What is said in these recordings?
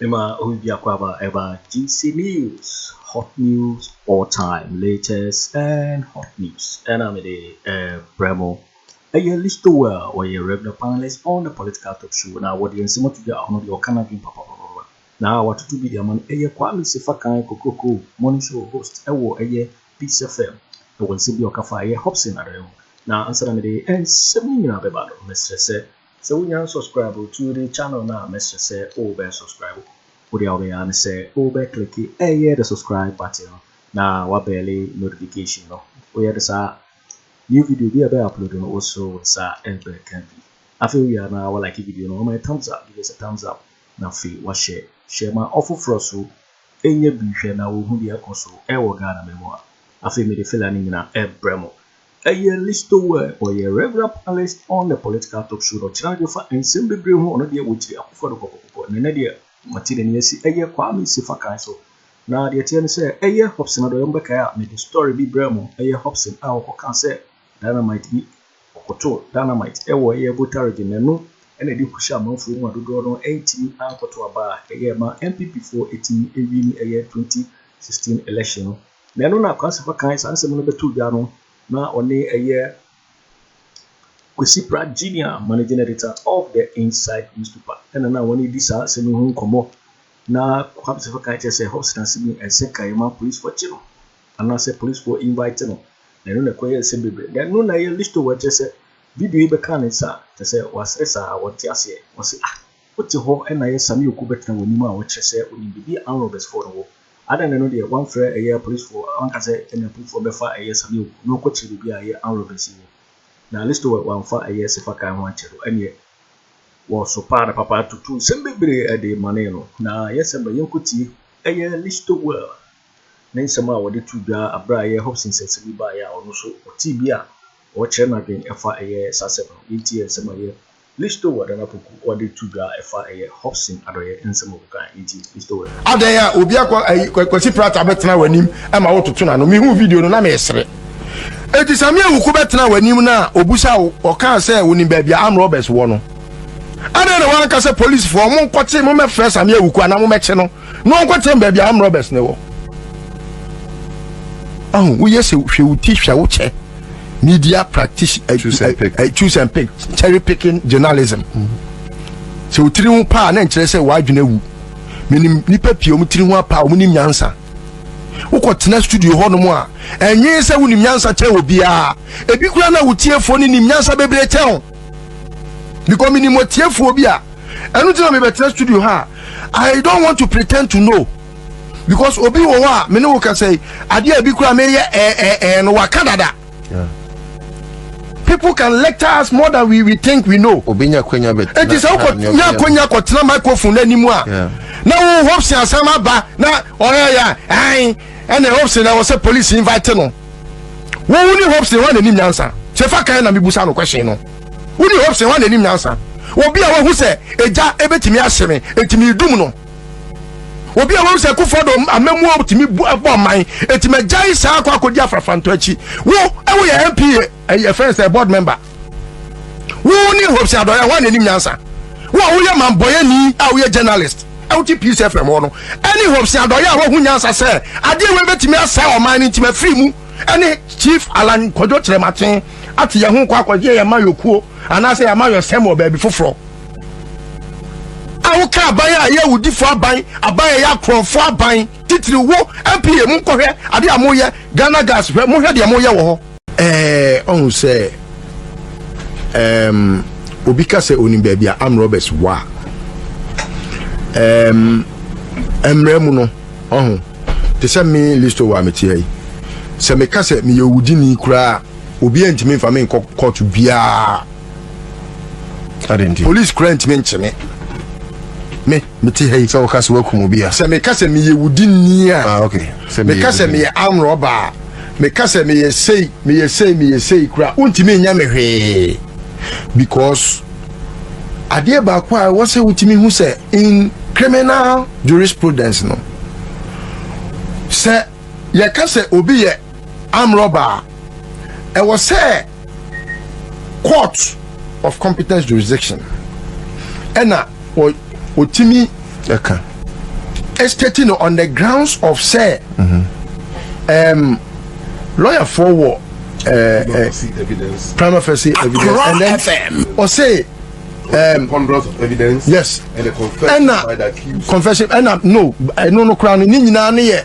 Mema obi biako aba ɛba GC news hot news all time latest and hot news ɛna mede ɛbrɛ mo. Ɛyɛ Listowell ɔyɛ regular panelist on the political talk show na wɔde nsɛm ato dwa ɔno deɛ ɔka n'adwene papapapa na watoto bi de ama no ɛyɛ Kwame Sefakan Kokroko morning show host ɛwɔ ɛyɛ Peace FM ɛwɔ nsɛm bi a ɔka fa ɛyɛ Hobson Adare ho na ansa na mede nsɛm no nyinaa bɛba no mɛsrɛ sɛ Sɛ wonya nsɔskraibo tuo de channel no a mɛsrɛ sɛ wo bɛ nsɔskraibo. Wo deɛ a wobɛyɛ ara ne sɛ wo bɛ kliki ɛyɛ the subscribe button no na wa bɛɛle notification no. Wo yɛ no saa a new video biara bɛ upload no wo so wo nsa bɛ ka bi. Afei wo wie a na wa like video no, wa ma yɛ thumbs up, give us a thumbs up, na afei wa share, share ma ɔfoforɔ so nya bi hwɛ na wo hu deɛ ɛkɔ so ɛwɔ Ghana mɛ mu a. Afei me de filler no nyina ɛbrɛ mo. Ɛyɛ Listowel, ɔyɛ regular panelist on the political talk show na ɔkyerɛ adwene fa nsɛm bebree ho, ɔno deɛ wɔkyiri Akufo Addo kɔkɔkɔkɔ na ɛnnɛ deɛ wɔate n'ani asi ɛyɛ Kwame Sefa kan so. Na deɛ ɛteɛ ne sɛ ɛyɛ Hobson Adoyɛ mobɛkae a mede story bi brɛɛ mo, ɛyɛ Hobson a ɔkɔkaa sɛ dynamite bi, ɔkɔtoo dynamite ɛwɔ ɛyɛ Volta region na ɛno na ɛde hu hyɛ amanfoɔ mu a dodoɔ no antumi ankɔto aba a ɛyɛ ɛmaa NPP foɔ ɛtumi ɛwini ɛyɛ 2016 election no. Na ɛno na Akwansefo kan saa nsɛm no bɛtoo gya no, na ɔne ɛyɛ Kwesi Pratt Junior, Managing Editor of the Inside Newspaper, ɛna na wɔne di saa nsɛm yi ho nkɔmmɔ. Na Kwansefo kan kyerɛ sɛ Hobson ase mu ɛnsɛ ka yɛma polisifo kye no, anaasɛ polisifo invite no, na ɛno na ɛkɔyɛɛ nsɛm bebree. Na ɛno na ɛyɛ Listowel kyerɛ sɛ video yi bɛkaa ne nsa a, kyerɛ sɛ wasere saa a, wɔnte aseɛ. Wɔse, Ah! Wote hɔ na yɛ Sammy Oku bɛtena w'anim a ɔkyerɛ sɛ onim biribi a Arm-Robbers foɔ no wɔ. Adɛn na ɛno deɛ wamfrɛ ɛyɛ Police foɔ wanka sɛ ɛnna Pum foɔ bɛfa ɛyɛ Sammy Oku na ɔkɔkyere biribi a ɛyɛ Arm-Robbers yi wɔ? Na Listowel wamfa ɛyɛ Sefa Kae ho ankyɛ no ɛnneɛ wɔ sopaa no papa tutuu nsɛm bebree de manee no. Na yɛ Sɛmbɛ yɛnkɔtie ɛyɛ Listowel ne nsɛm a ɔde too dwa aberɛ a ɛyɛ Hobson nsɛnsɛm yi baeɛ a ɔno nso ɔtee bi a ɔrekyerɛ n'adwen ɛfa ɛyɛ saa asɛm no. Yɛntie nsɛm a ɛyɛ Listo wɔ dan apoku a ɔde to dwa a ɛfa ɛyɛ Hobson adɔeɛ nsɛm a ɔkekae nti, Listo wɔ dan. Adɛn a obi akɔ ayi Kwasi Pratt abɛtena w'anim ma wototo n'ano? Mehuu video no, na meresere. Enti Sammy Awuku bɛtenaa w'anim na obusaa wo, ɔkaa sɛ wonim baabi a armed robbers wɔ no, adɛn na woanka sɛ, Polisfoɔ, monkɔte, mommɛfrɛ Sammy Awuku anaa mommɛkye no? na wɔnkɔtena baabi a armed robbers na ɛwɔ ahu woyɛ sɛ hwɛ wo ti hwɛ wo kyɛ media practice eh, choose and eh, pick, eh, choose and pick. cherry picking journalism sɛ wotiri ho paa na nkyerɛ sɛ w'adwene awu menim nipa pii ɔmo tiri ho apaa ɔmo nim nyansa wokɔ tena studio hɔ nom a ɛnwee sɛ wonim nyansa kyɛn obiara ebi kura na wotiefo ne nim nyansa bebree kyɛn because menim atiefoɔ bi a ɛno nti na mebɛtena studio ha i don't want to pretend to know because obi wɔ hɔ a me ne wo kasa yi adeɛ a bi kura meyɛ ɛɛɛɛ no waka dada people can lecture us more than we, we think we know obi nya kwanya bɛ eti sɛ wokɔ nya kwanya kɔ tena microphone n'anim a na wo hopes asɛm aba na ɔyɛ yɛ ɛn ɛna hopes na wɔ sɛ police invite no Wo wo ne Hobson hwan na anim nyansa? Sɛ fa kan na mebusa no question no. Wo ne Hobson hwan na anim nyansa? Obi a wahu sɛ egya ebetumi ahye me enti medum no. Obi a wahu sɛ Kufuor amamuo tumi bɔ ɔman enti magyae saa akɔ akɔdi afrafrantɔ akyi. Wo ɛwo yɛ MP ɛyɛ fɛn sɛ board member wo ne hope sɛ adɔyɛ hɔ na anim nyansa wo a woyɛ mambɔyɛni a woyɛ journalist a wote peace fm hɔ no ɛne hope sɛ adɔyɛ a woahu nyansa sɛ adeɛ wei bɛtumi asɛ ɔman no nti mafiri mu ɛne chief alan kwadwo kyerɛmaten ate yɛn ho kɔ akɔgye yɛn ma yɔkuo anaasɛ yɛn ma yɔsɛm wɔ baabi foforɔ a woka aban a ɛyɛ awudifo aban aban a ɛyɛ akorɔmfo aban titiri wo mpa mu nkɔhwɛ adeɛ a moyɛ ghana gas hwɛ mohwɛ deɛ moyɛ wɔ hɔ Ɛɛ, ɔhu sɛ ɛɛm obi ka sɛ onim baabi a arm robbers wɔ a, ɛɛm mmerɛ mu no ɔho te sɛ me listo wɔ a mete ha yi, sɛ meka sɛ meyɛ owudini koraa obi antumi mfa me nkɔ kɔɔto biara. Polisi koraa ntumi nkye me. Mete ha yi. Sɛ woka sɛ woakum obi a. Sɛ meka sɛ meyɛ wudini a. Ah, okay. Sɛ meyɛ Meka sɛ wudini. meyɛ armed robber a. Meka sɛ meyɛ sei, meyɛ sei, meyɛ sei koraa, wontumi nyɛ me hwee. Because adeɛ baako a ɛwɔ sɛ wotumi hu sɛ in criminal jurisprudence no, sɛ yɛka sɛ obi yɛ armed robber a, ɛwɔ sɛ. court of competence jurisdiction ɛna ɔtumi ɛka estate no on the grounds of sɛ um, lɔyafoɔ wɔ prima facie evidence and then ɔsɛ um, ponderance of evidence yes ɛna confession ɛna no ɛno no koraa no ne nyinaa ne yɛ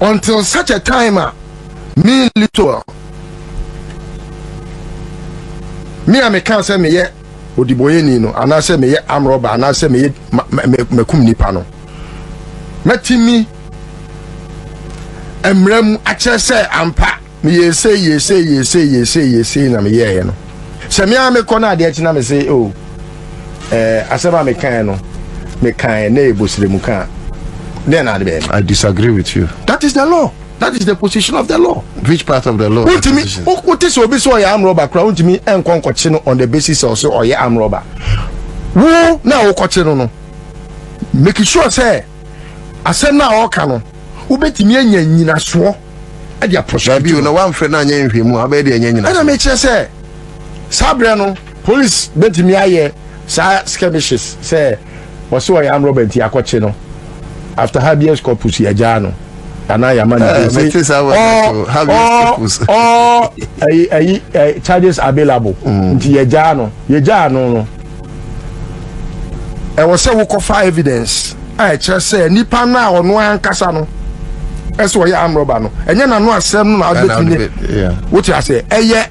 until such a time a me little me a mekaa sɛ meyɛ odibɔyɛni no anaasɛ meyɛ amrɔba anaasɛ meyɛ makum nipa no matumi mmerɛ mu akyerɛ sɛ ampa meyɛ sei yɛ sei yɛ sei yɛ sei yɛ sei na meyɛeɛ no sɛ me ara mekɔ no adeɛ kyena me se o oh, eh, asɛm a mekaeɛ no mekaeɛ na ɛbɔ serɛ mu kaa dɛn na ade bɛyɛ i disagree with you that is the law that is the position of the law which part of the law wontumi wote sɛ obi sɛ ɔyɛ amrɔba koraa wontumi nkɔ nkɔkye no on the basis sɛ ɔsɛ ɔyɛ amrɔba wo na wokɔkye no no make sure sɛ asɛm no a ɔka no wobɛtumi anya nyinasoɔ de aporɔ so. Dabi o, na wamfrɛ na anyɛ nhwɛmu a, wobɛyɛ deɛ ɛnyɛ nyina. Ɛna mekyerɛ sɛ, saa berɛ no, polis bɛtumi ayɛ saa skirmishes sɛ wɔse ɔyɛ armed robber nti akɔkye no, after habeas corpus yɛagyaa no anaa yɛama no eh, din sɛ all charges available mm. nti yɛgyaa no yɛgyaa no no ɛwɔ sɛ wokɔfa evidence a ɛkyerɛ sɛ nipa no a ɔno ankasa no ɛsɛ ɔyɛ amrɔba no ɛnyɛ n'ano asɛm no na abɛtumi ne wote aseɛ ɛyɛ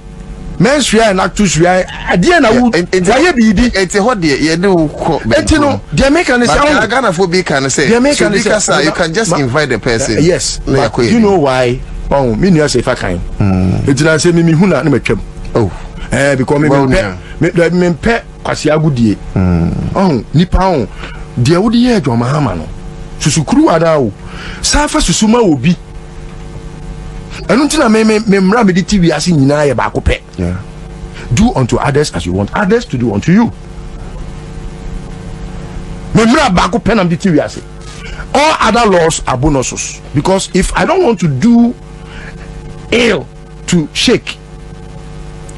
mɛnsua yɛ n'ato sua adeɛ na wo wayɛ biribi ɛte hɔ deɛ yɛde wo kɔ ɛti no deɛ meka ne sɛ wo Ghanafoɔ bi ka ne sɛ deɛ meka ne sɛ you can just invite the person yes but you know why ɔn me nua sɛ ifa kan ɛti na sɛ mimi hu na ne matwam oh ɛɛ eh, because mimi pɛ Me daabi me mpɛ kwasi agodie. Mm. Ɔho nipa ho deɛ wode yɛ adwama ama no susu kuruwa no awo saa fa susu ma wɔ bi ɛno nti na me me me mmara mede ti wiase nyinaa yɛ baako pɛ. Do unto others as you want others to do unto you. Me mmara baako pɛ na mede ti wiase. All other laws are bonuses because if I don't want to do ill to shake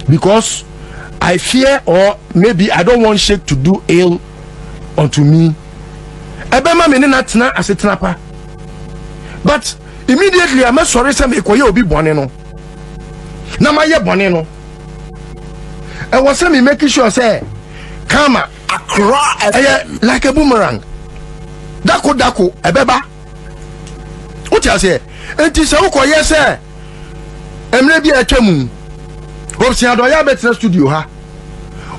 because I fear or maybe I don't want shake to do ill unto me. Ɛbɛma me ne no atena asetena pa. But immediately a mɛsɔre sɛ mekɔyɛ obi bɔne no na mayɛ bɔne no. Ɛwɔ sɛ me make sure sɛ karma ɛyɛ like a boomerang. Dako dako ɛbɛba. Wote aseɛ? Nti sɛ wokɔyɛ sɛ mmerɛ bi a atwa mu Hopes Adɔyɛ abɛtena studio ha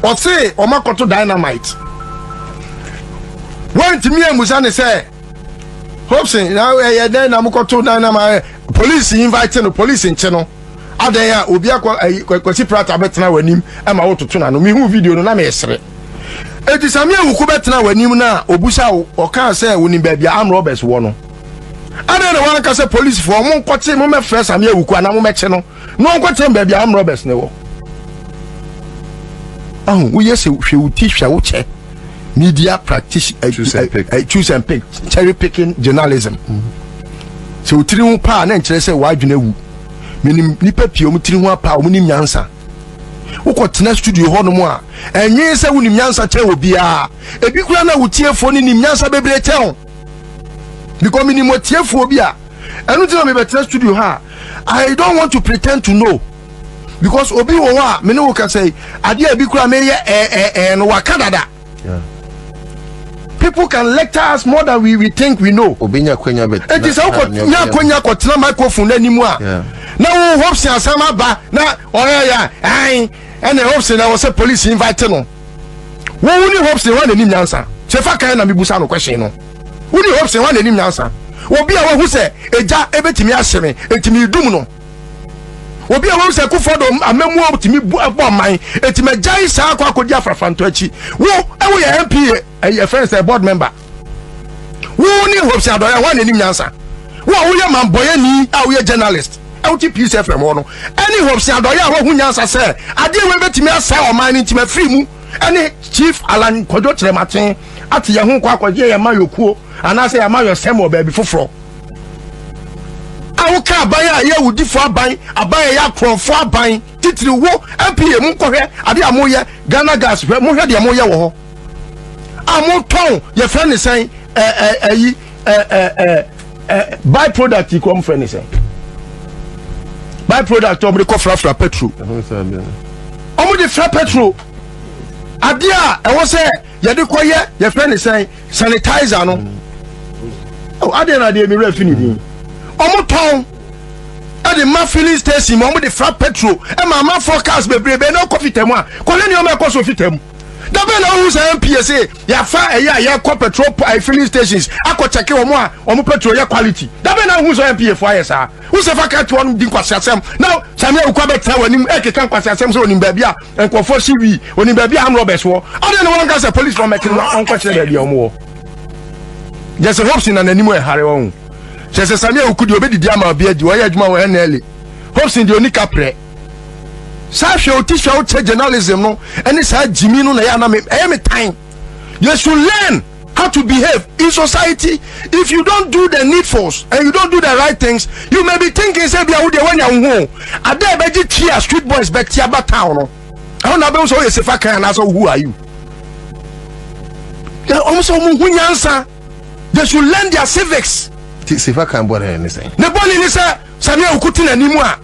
ɔse wɔn akɔto dynamite wɔntumi amusa ne sɛ Hopes ɛyɛ dɛn na mokɔto dynamite police invite no police nkye no adɛn a obi akɔ ayi kwasi prata bɛtena w'anim ɛma wototo na no mehu video no na meresere eti sami awuku bɛtena w'anim na obusa wo ɔkaa sɛ wonim baabi a amrɔbɛs wɔ no adɛn na wanka sɛ policefoɔ ɔmo nkɔte mo mɛfrɛ same awuku anaa mo mɛkye no na ɔnkɔte baabi a amrɔbɛs ne wɔ ahu woyɛ sɛ hwɛ wo ti hwɛ wo kyɛ media practice eh, choose and eh, pick, eh, choose and pick. cherry picking journalism sɛ wotiri ho paa na nkyerɛ sɛ wadwene awu menim nipa pii ɔmo tiri ho apaa ɔmo nim nyansa wokɔ tena studio hɔ nom a ɛnwee sɛ wonim nyansa kyɛn obiara ebi kura na wotiefo no nim nyansa bebree kyɛn because menim atiefoɔ bi a ɛno nti na mebɛtena studio ha i don't want to pretend to know because obi wɔ hɔ a mene wo kasa yi adeɛ a bi kora meyɛ ɛɛɛɛ no waka dada people can lecture us more than we, we think we know obi nya kwanya bɛtena enti sɛ wokɔ nya kwanya kɔtena microphone no anim a na wo hopsen asɛm aba na ɔyɛyɛ ɛn ɛne hopsen na wɔ sɛ police invite no Wo woni hope sen hwan na enim nyansa? Sɛ fa kan na me busa no question no. Woni hope sen hwan na enim nyansa? Obi a wahu sɛ egya ebetumi ahye me enti me dum no. Obi a wahu sɛ kufɔ do amamuo tumi bɔ ɔman enti magyae saa akɔ akɔdi afrafrantɔ akyi. Wo ɛwo yɛ MP ɛyɛ fɛn sɛ board member. wo ne hope sɛ adɔyɛ hɔ a n'anim nyansa wo a woyɛ mambɔyɛni a woyɛ journalist a wote peace fm hɔ no ɛne hope sɛ adɔyɛ a woahu nyansa sɛ adeɛ wei bɛtumi asɛe ɔman no nti mafiri mu ɛne chief alan kwadwo kyerɛmaten ate yɛn ho kɔ akɔgye yɛn ma yɔkuo anaasɛ yɛn ma yɔsɛm wɔ baabi foforɔ a woka aban a ɛyɛ awudifo aban aban a ɛyɛ akorɔmfo aban titiri wo mpa mu nkɔhwɛ adeɛ a moyɛ ghana gas hwɛ mohwɛ deɛ moyɛ wɔ hɔ a motɔn yɛfrɛ ne sɛn ɛyi by product yi kɔ mfrɛ ne sɛn by product ɔmode kɔ frafra petro ɔmode fra petro adeɛ a ɛwɔ sɛ yɛde kɔyɛ yɛfrɛ ne sɛn sanitizer no adeɛ na adeɛ mewerɛ fi ne din ɔmotɔn ɛde ma filling station mu ɔmode fra petro ɛma amanfoɔ cars bebrebe na ɔkɔ fitam a kɔhwɛ nneɛma ɛkɔ so fitam da bɛn na wohu saa mpie se yɛafa ɛyɛ a yɛkɔ petrol eh, filling stations akɔkyɛke wɔn a wɔn petrol yɛ quality da bɛn na wohu sɛ mpie fo ayɛ saa wosɛ fa ka toɔ no di nkwaseasɛm na samia wokɔ bɛtena w'anim ɛkeka nkwaseasɛm sɛ onim baabi a nkurɔfoɔ si wii onim baabi a amrɔbɛs wɔ adeɛ ne wɔnka sɛ police wɔmɛte no wɔnkɔkyerɛ baabi a wɔn wɔ gyɛ sɛ hopsi na n'anim ɛhare wɔn kyɛ sɛ samia wokudi obɛdidi ama obi adi wɔyɛ adwuma wɔ nla hopsi deɛ ɔni kaprɛ saa hwɛ oti hwɛ ɔkyɛ journalism no ɛne saa gyimi no na ɛyɛ anam ɛyɛ me tan you should learn how to behave in society if you don't do the needfuls and you don't do the right things you may be thinking sɛ bia wo deɛ wanya wo ho ada ɛbɛgye twi a street boys bɛte aba town no ɛhɔ na abɛhu sɛ woyɛ sefa kan anaasɛ who are you ɔmo sɛ ɔmo hu nyansa they should learn their civics sefa kan bɔne ne sɛ ne bɔne ne sɛ sani awuku te n'anim a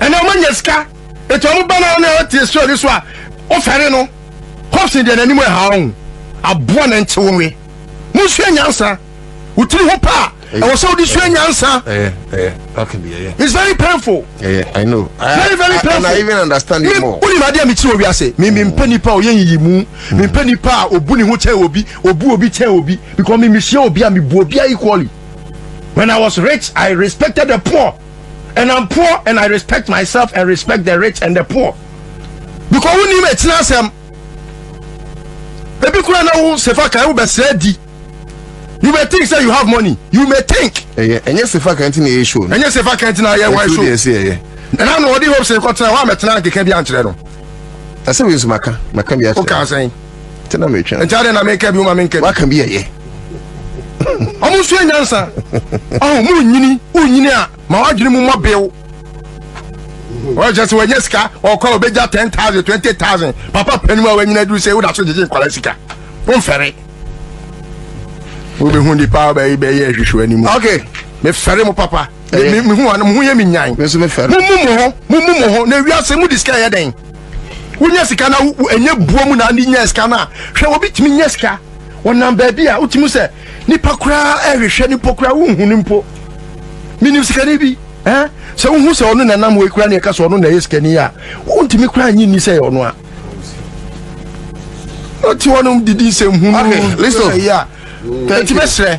ɛnna wɔn anya sika etu wɔn ba naa na ɔte esuo ne so a ɔfɛre no kɔpsi deɛ n'anim ɛha wɔn aboa na nkye wɔn wɛ mo nsua nyansa wotiri ho paa ɛwɔ sɛ wodi sua nyansa it's very painful yeah, I know I, very very painful and I even understand it more wuli ma di a mi ti wɔ wiase mi mi mm. mpɛ nipa a ɔyɛ yiyi mu mi mpɛ nipa a obu ne ho kyɛn obi obu obi kyɛn obi because mi mi hyia obi a mi bu obi a equally. When I was rich, I respected the poor, and I'm poor, and I respect myself and respect the rich and the poor. Because who name it's not some. Ebi kura na wo sefa kan wo bɛsrɛ di. You may think say you have money. You may think. Ɛyɛ ɛnyɛ sefa kan ti na ɛyɛ show. Ɛnyɛ sefa kan ti na ɛyɛ wine show. Ɛtu deɛ ɛsɛ ɛyɛ. Ɛna na ɔde hope sɛ nkɔtena hɔ a mɛtena nkeka bi ankyerɛ no. Ɛsɛ bi nso maka maka bi akyerɛ. O kan sɛn. nti na metwa nti adɛn na meka bio ma menka bi waka bi ɛyɛ ɔmo nso yɛ nyansa ɔho mu nyini wonyini a ma wadwene mu mmɔ bew ɔkyɛ sɛ wanya sika ɔkɔ a ɔbɛgya 10000 20000 papa panim a wanyina duru sɛ woda so gyegye nkwara sika womfɛre wobɛhu nipa bɛyɛ hwehwɛ anim okay mefɛre mo papa me me hu ano mo ho yɛ me nyan mo nso me fɛ mo mu mo ho mo mu mo ho na wiase mo di sika yɛ dɛn wonya sika na wo enye buo mu na ne nya sika na hwɛ obi tumi nya sika wɔnam baabi a wotumi sɛ nipa koraa ɛhwehwɛ nipa koraa wohu ne mpo menim sikani bi eh sɛ wohu sɛ ɔno na nam wei koraa ne ɛka sɛ ɔno na ɛyɛ sikani a wontumi koraa nye nni sɛ ɔno a ɔte hɔ nom didi nsɛm hu no okay listen ɛti bɛsrɛ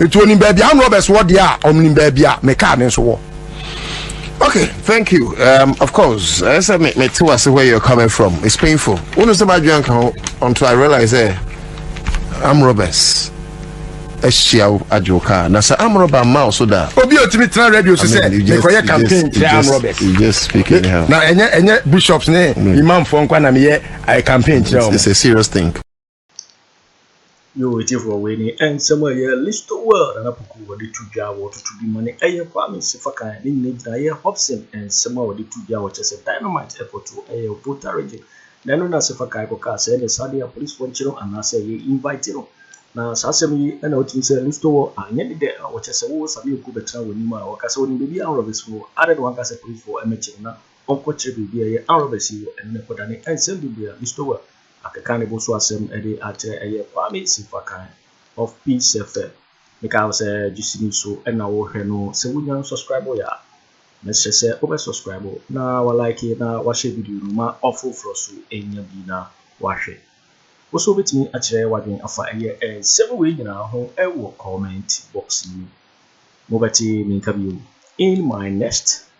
Nti onim baabi a roberts wɔ deɛ a ɔnim baabi a me car ne nso wɔ. okay thank you um, of course ɛyɛ sɛ me mete wase where you're coming from it's painful wonu sɛ madwene anka ho until i realize sɛ am roberts ahyia wo agye wo car na sɛ am rober mma wo so da obi a ɔtumi tena radio so sɛ mekɔyɛ campaign kyerɛ am roberts na ɛnyɛ ɛnyɛ bishops ne imamfoɔ nkwa na meyɛ eh, campaign kyerɛ wɔn it's a serious thing Yoo etiefoɔ wei ne nsɛm a ɛyɛ listo world nana poku wɔde to dwa a wɔtoto bi ma ne ɛyɛ kwame sefakan ne nyina gyina ɛyɛ hobson nsɛm a wɔde to dwa a wɔkyɛ sɛ dynamite ɛkɔto ɛyɛ obota region na ɛno na sefakan kɔkaa sɛ ɛne saa deɛ apolisifoɔ nkyerɛ no anaasɛ ɛyɛ invite no na saa asɛm yi ɛna wotumi sɛ listo world anyɛ ne dɛ a wɔkyɛ sɛ wo same oku bɛtena w'anim a wɔka sɛ wɔnim baabi a anrobes wɔ adɛ na wɔanka sɛ apolisifoɔ ɛmɛkye no na ɔnkɔkyerɛ baabi a ɛyɛ anrobes yi wɔ ɛno na ɛkɔdane nsɛm bebree a listo world Akeka ne bo so asɛm de akyerɛ ɛyɛ Kwame Simfakan of Peace FM. Mekae wo sɛ gyesi no so na wo hwɛ no sɛ wo nya no subscribe yɛ a mɛsrɛ sɛ wo bɛ subscribe na wa like na wa share video no ma ɔforoforɔ so nya bi na wa hwɛ. Wo nso wobɛtumi akyerɛ wadwen afa ɛyɛ nsɛm wei nyinaa ho wɔ comment box no mu. Mo bɛte me nka bio in my next.